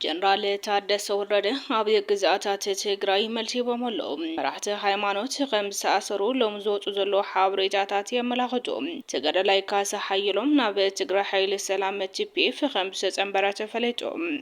ጀነራል ታደሰ ወረደ ኣብ ግዝኣታት ትግራይ መልሲ ሂቦም ኣለዉ። መራሕቲ ሃይማኖት ከም ዝተኣሰሩ ሎም ዝወፁ ዘለዉ ሓበሬታታት የመላኽቱ። ተጋዳላይ ካሳ ሓየሎም ናብ ትግራይ ሓይሊ ሰላም ቲፒኤፍ ከም ዝተፀምበረ ተፈሊጡ።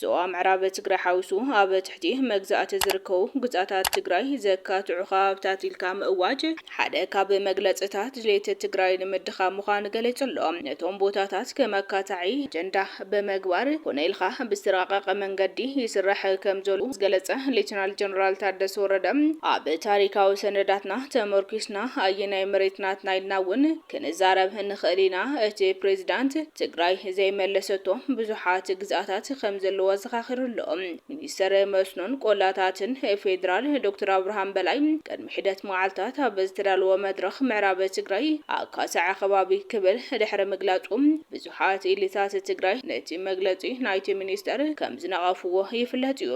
ዞባ ምዕራብ ትግራይ ሓዊሱ ኣብ ትሕቲ መግዛእቲ ዝርከቡ ግዝኣታት ትግራይ ዘካትዑ ከባብታት ኢልካ ምእዋጅ ሓደ ካብ መግለፅታት ድሌት ትግራይ ንምድኻም ምዃኑ ገሊፁ ኣሎ። ነቶም ቦታታት ከም ኣካታዒ ኣጀንዳ ብምግባር ኮነ ኢልካ ብዝተራቐቐ መንገዲ ይስራሕ ከምዘሎ ዝገለፀ ሌተናል ጀነራል ታደሰ ወረደ ኣብ ታሪካዊ ሰነዳትና ተመርኲስና ኣየናይ መሬት ናትና ኢልና እውን ክንዛረብ ንኽእል ኢና እቲ ፕሬዚዳንት ትግራይ ዘይመለሰቶ ብዙሓት ግዝኣታት ከምዘለዎ ኣዘኻኺሩ ኣሎ። ሚኒስተር መስኖን ቆላታትን ፌዴራል ዶክተር ኣብርሃም በላይ ቅድሚ ሒደት መዓልታት ኣብ ዝተዳለወ መድረኽ ምዕራብ ትግራይ ኣካሳዐ ከባቢ ክብል ድሕሪ ምግላፁ ብዙሓት ኢሊታት ትግራይ ነቲ መግለፂ ናይቲ ሚኒስተር ከምዝነቐፍዎ ይፍለጥ እዩ።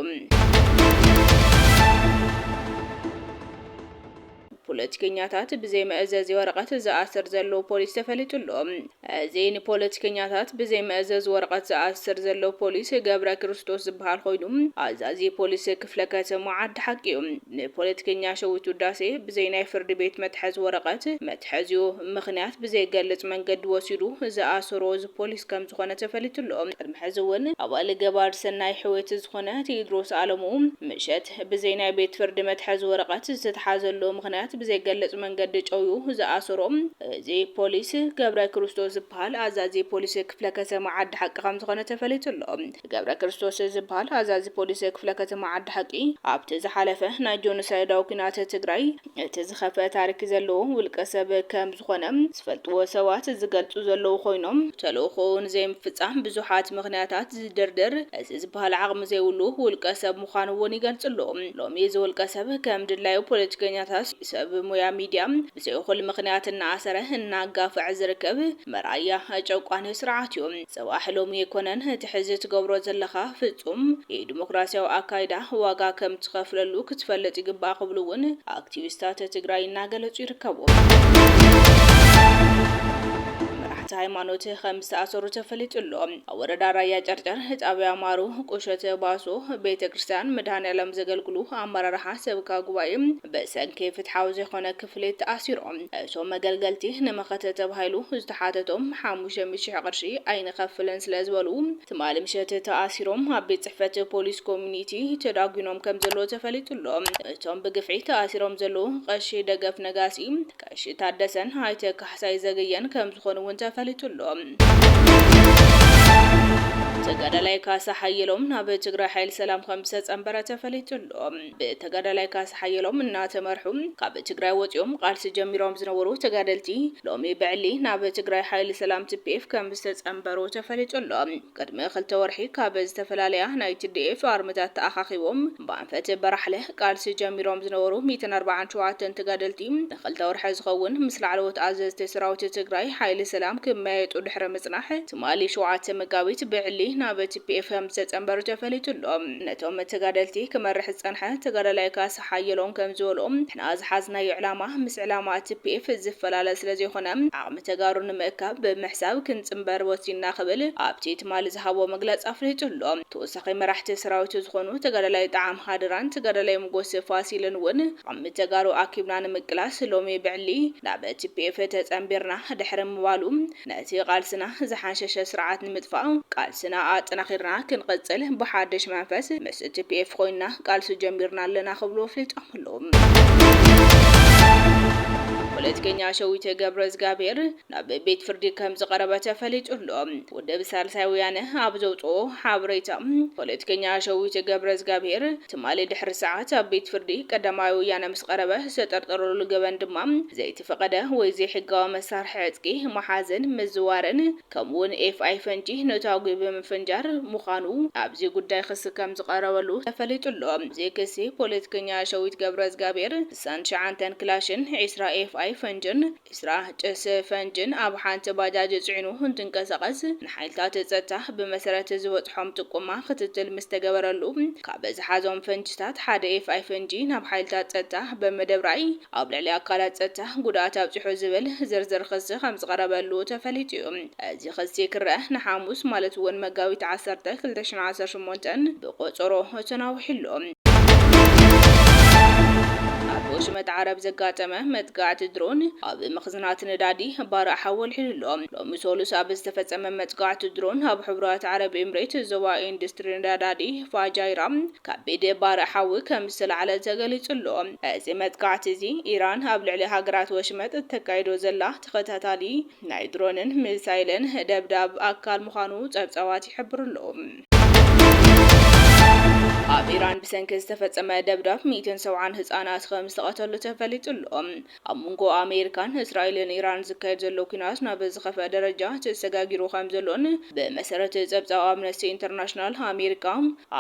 ፖለቲከኛታት ብዘይ መእዘዚ ወረቐት ዝኣስር ዘሎ ፖሊስ ተፈሊጡ ኣሎ። እዚ ንፖለቲከኛታት ብዘይ መእዘዚ ወረቐት ዝኣስር ዘሎ ፖሊስ ገብረክርስቶስ ዝበሃል ኮይኑ ኣዛዚ ፖሊስ ክፍለ ከተማ ዓዲ ሓቂ እዩ። ንፖለቲከኛ ሸዊት ውዳሴ ብዘይ ናይ ፍርድ ቤት መትሐዚ ወረቐት መትሐዚኡ ምኽንያት ብዘይገልፅ መንገዲ ወሲዱ ዝኣሰሮ እዚ ፖሊስ ከምዝኾነ ተፈሊጡ ኣሎ። ቅድሚ ሕዚ እውን ኣባል ገባር ሰናይ ሕውየት ዝኾነ ቴድሮስ ኣለሙ ምሸት፣ ብዘይ ናይ ቤት ፍርዲ መትሐዚ ወረቀት ዝተትሓዘሉ ምኽንያት ብዘይገለፅ መንገዲ ጨውዩ ዝኣሰሮ እዚ ፖሊስ ገብረክርስቶስ ዝበሃል ኣዛዚ ፖሊስ ክፍለ ከተማ ዓዲ ሓቂ ከምዝኾነ ተፈሊጡ ኣሎ። ገብረክርስቶስ ዝበሃል ኣዛዚ ፖሊስ ክፍለ ከተማ ዓዲ ሓቂ ኣብቲ ዝሓለፈ ናይ ጆኖሳይዳዊ ኲናት ትግራይ እቲ ዝኸፍኣ ታሪክ ዘለዎ ውልቀ ሰብ ከም ዝኾነ ዝፈልጥዎ ሰባት ዝገልጹ ዘለዉ ኮይኖም፣ ተልእኾኡ ንዘይምፍጻም ብዙሓት ምኽንያታት ዝድርድር እዚ ዝበሃል ዓቕሚ ዘይብሉ ውልቀ ሰብ ምዃኑ እውን ይገልጽሉ። ሎሚ እዚ ውልቀ ሰብ ከም ድላዩ ፖለቲከኛታት፣ ሰብ ሙያ ሚድያ ብዘይ እኹል ምኽንያት እናኣሰረ እናጋፍዐ ዝርከብ መርኣያ ጨቋኒ ስርዓት እዩ። ጽባሕ ሎሚ ኣይኮነን እቲ ሕዚ ትገብሮ ዘለኻ ፍጹም ኢዲሞክራሲያዊ ኣካይዳ ዋጋ ከም ትኸፍለሉ ክትፈልጥ ይግባእ ክብሉ እውን ኣክቲቪስታት ትግራይ እናገለጹ ይርከቡ። መራሕቲ ሃይማኖት ከም ዝተኣሰሩ ተፈሊጡ ኣሎ። ኣብ ወረዳ ራያ ጨርጨር ጣብያ ማሩ ቁሸት ባሶ ቤተ ክርስትያን መድሃኒኣለም ዘገልግሉ ኣመራርሓ ሰብካ ጉባኤ ብሰንኪ ፍትሓዊ ዘይኮነ ክፍሊት ተኣሲሩ። እቶም መገልገልቲ ንመኸተ ተባሂሉ ዝተሓተቶም ሓሙሽተ ሚእቲ ሽሕ ቅርሺ ኣይንኸፍልን ስለዝበሉ ትማሊ ምሸት ተኣሲሮም ኣብ ቤት ፅሕፈት ፖሊስ ኮሚኒቲ ተዳጒኖም ከምዘለዉ ተፈሊጡ'ሎ። እቶም ብግፍዒ ተኣሲሮም ዘለዉ ቀሺ ደገፍ ነጋሲ፣ ቀሺ ታደሰን ኣይተ ካሕሳይ ዘገየን ከምዝኾኑ እውን ተፈሊጡ'ሎ። ተጋዳላይ ካሳ ሓየሎም ናብ ትግራይ ሓይሊ ሰላም ከምዝተፀምበረ ተፈሊጡ'ሎ። ብተጋዳላይ ካሳ ሓየሎም እናተመርሑ ካብ ትግራይ ወፂኦም ቓልሲ ጀሚሮም ዝነበሩ ተጋደልቲ ሎሚ ብዕሊ ናብ ትግራይ ሓይሊ ሰላም፣ tpf፣ ከም ዝተፀምበሩ ተፈሊጡ ኣሎ። ቕድሚ ክልተ ወርሒ ካብ ዝተፈላለያ ናይ tdf ኣርምታት ተኣኻኺቦም ብኣንፈት በራሕለ ቓልሲ ጀሚሮም ዝነበሩ ሚእትን ኣርብዓን ሸውዓተን ተጋደልቲ ንክልተ ወርሒ ዝኸውን ምስ ላዕለዎት ኣዘዝቲ ሰራዊት ትግራይ ሓይሊ ሰላም ክመያየጡ ድሕሪ ምፅናሕ ትማሊ ሸውዓተ መጋቢት ብዕሊ ናብ tpf ከምዝተጸንበሩ ተፈሊጡ ኣሎ። ነቶም ተጋደልቲ ክመርሕ ዝጸንሐ ተጋዳላይ ካሳ ሓየሎም ከምዝበሎ፣ ንሕና ዝሓዝናዮ ዕላማ ምስ ዕላማ tpf ዝፈላለ ስለዘይኮነ ዓቕሚ ተጋሩ ንምእካብ ብምሕሳብ ክንጽንበር ወሲንና ክብል ኣብቲ ትማሊ ዝሃቦ መግለጺ ኣፍሊጡ ኣሎ። ተወሳኺ መራሕቲ ሰራዊቱ ዝኾኑ ተጋዳላይ ጠዓም ሃድራን ተጋዳላይ ሞጎስ ፋሲልን እውን ዓቕሚ ተጋሩ ኣኪብና ንምቅላስ ሎሚ ብዕሊ ናብ tpf ተጸንቢርና ድሕሪ ምባሉ ነቲ ቃልስና ዝሓንሸሸ ስርዓት ንምጥፋእ ቃልስና ኣጠናኺርና ክንቕፅል ብሓድሽ መንፈስ ምስ tpf ኾይንና ቃልሲ ጀሚርና ኣለና ክብሉ ኣፍሊጦም ኣለው። ፖለቲከኛ ሸዊተ ገብረእዝጋብሄር ናብ ቤት ፍርዲ ከምዝቐረበ ተፈሊጡ ኣሎ። ውድብ ሳልሳይ ወያነ ኣብ ዘውጽኦ ሓበሬታ ፖለቲከኛ ሸዊተ ገብረእዝጋብሄር ትማሊ ድሕሪ ሰዓት ኣብ ቤት ፍርዲ ቀዳማይ ወያነ ምስ ቀረበ ዝተጠርጠረሉ ገበን ድማ ዘይተ ዝፈቐደ ወይ ዘይሕጋዊ መሳርሒ ዕጥቂ ምሓዝን ምዝዋርን ከምኡ'ውን ኤፍኣይ ፈንጂ ነታጒ ብምፍንጃር ምዃኑ ኣብዚ ጉዳይ ክሲ ከም ዝቐረበሉ ተፈሊጡ ኣሎ። ኣብዚ ክሲ ፖለቲከኛ ሸዊት ገብረዝጋብሄር ስሳን ትሽዓንተን ክላሽን፣ ዕስራ ኤፍኣይ ፈንጅን ዕስራ ጭስ ፈንጅን ኣብ ሓንቲ ባጃጅ ጽዒኑ እንትንቀሳቐስ ንሓይልታት ጸጥታ ብመሰረት ዝበጽሖም ጥቁማ ክትትል ምስ ተገበረሉ ካብ ዝሓዞም ፈንጅታት ሓደ ኤፍኣይ ፈንጂ ናብ ሓይልታት ጸጥታ ብምድብራይ ኣብ ልዕሊ ኣካላት ጸጥታ ጉድኣት ኣብጺሑ ዝብል ዝርዝር ኽሲ ከምዝቐረበሉ ተፈሊጡ'ዩ። እዚ ኽሲ ክረኣ ንሓሙስ ማለት'ውን መጋቢት ዓሰርተ፣ ክልተ ሽሕን ዓሰርተ ሸሞንተን ብቖጸሮ ተናዊሑ'ሎ። ኣብ ወሽመጥ ዓረብ ዘጋጠመ መጥቃዕቲ ድሮን ኣብ መኽዝናት ነዳዲ ባርዕ ሓዊ ኣልዒሉ'ሎ። ሎሚ ሰሉስ ኣብ ዝተፈጸመ መጥቃዕቲ ድሮን ኣብ ሕቡራት ዓረብ ኤምሬት ዞባ ኢንዱስትሪ ነዳዲ ፋጃይራ፣ ከቢድ ባርዕ ሓዊ ከም ዝተላዕለ ተገሊጹ ኣሎ። እዚ መጥቃዕቲ እዚ፣ ኢራን ኣብ ልዕሊ ሃገራት ወሽመጥ እተካይዶ ዘላ ተኸታታሊ ናይ ድሮንን ሚሳይልን ደብዳብ ኣካል ምዃኑ ጸብጻባት ይሕብሩ ኣለዉ። ኣብ ኢራን ብሰንኪ ዝተፈጸመ ደብዳብ ሚእትን ሰብዓን ህጻናት ከም ዝተቐተሉ ተፈሊጡ ኣሎ። ኣብ መንጎ ኣሜሪካን እስራኤልን ኢራን ዝካየድ ዘሎ ኲናት ናብ ዝኸፍኣ ደረጃ ተሰጋጊሩ ከምዘሎን ብመሰረት ጸብጻብ ኣምነስቲ ኢንተርናሽናል ኣሜሪካ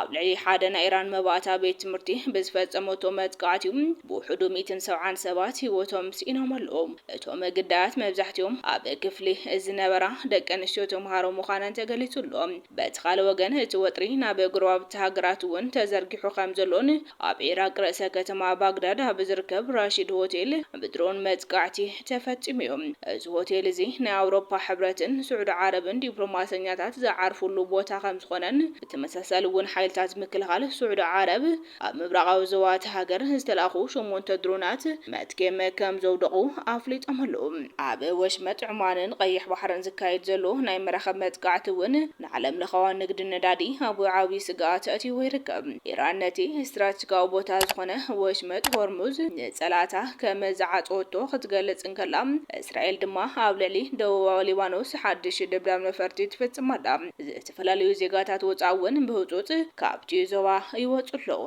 ኣብ ልዕሊ ሓደ ናይ ኢራን መባእታ ቤት ትምህርቲ ብዝፈጸመቶ መጥቃዕቲ'ዩ ብውሕዱ ሚእትን ሰብዓን ሰባት ህይወቶም ስኢኖም ኣለዉ። እቶም ግዳያት መብዛሕቲኦም ኣብ ክፍሊ ዝነበራ ደቂ ኣንስትዮ ተምሃሮ ምዃነን ተገሊጹ ኣሎ። በቲ ካልእ ወገን እቲ ወጥሪ ናብ ጎረባብቲ ሃገራት'ውን ተዘርጊሑ ከምዘሎን ኣብ ኢራቅ ርእሰ ከተማ ባግዳድ ኣብ ዝርከብ ራሺድ ሆቴል ብድሮን መጥቃዕቲ ተፈጺሙ'ዩ። እዚ ሆቴል እዚ ናይ ኣውሮፓ ሕብረትን ስዑዲ ዓረብን ዲፕሎማሰኛታት ዝዓርፉሉ ቦታ ከምዝኾነን ብተመሳሳሊ እውን ሓይልታት ምክልኻል ስዑዲ ዓረብ ኣብ ምብራቓዊ ዞባ እታ ሃገር ዝተላእኹ ሸሞንተ ድሮናት መትኬም ከምዘውደቑ ኣፍሊጦም ኣለው። ኣብ ወሽመጥ ዑማንን ቀይሕ ባሕርን ዝካየድ ዘሎ ናይ መራኽብ መጥቃዕቲ እውን ንዓለም ለኸዊ ንግዲ ነዳዲ ኣብ ዓብይ ስግኣት ኣእትይዎ ይርከብ። ኢራን ነቲ ስትራትጂካዊ ቦታ ዝኾነ ወሽመጥ ሆርሙዝ ንፀላእታ ከም ዝዓፀወቶ ክትገልፅ እንከላ፣ እስራኤል ድማ ኣብ ልዕሊ ደቡባዊ ሊባኖስ ሓድሽ ድብዳብ ነፈርቲ ትፍፅም ኣላ። ዝተፈላለዩ ዜጋታት ወፃኢ እውን ብህፁፅ ካብቲ ዞባ ይወፁ ኣለዉ።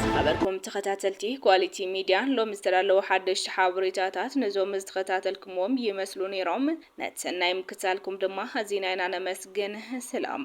ዝኸበርኩም ተኸታተልቲ ኳሊቲ ሚድያ ሎሚ ዝተዳለዉ ሓደሽቲ ሓበሬታታት ነዞም ዝተኸታተልክምዎም ይመስሉ ነይሮም። ነቲ ሰናይ ምክትታልኩም ድማ ኣዚና ኢና ነመስግን። ስላም።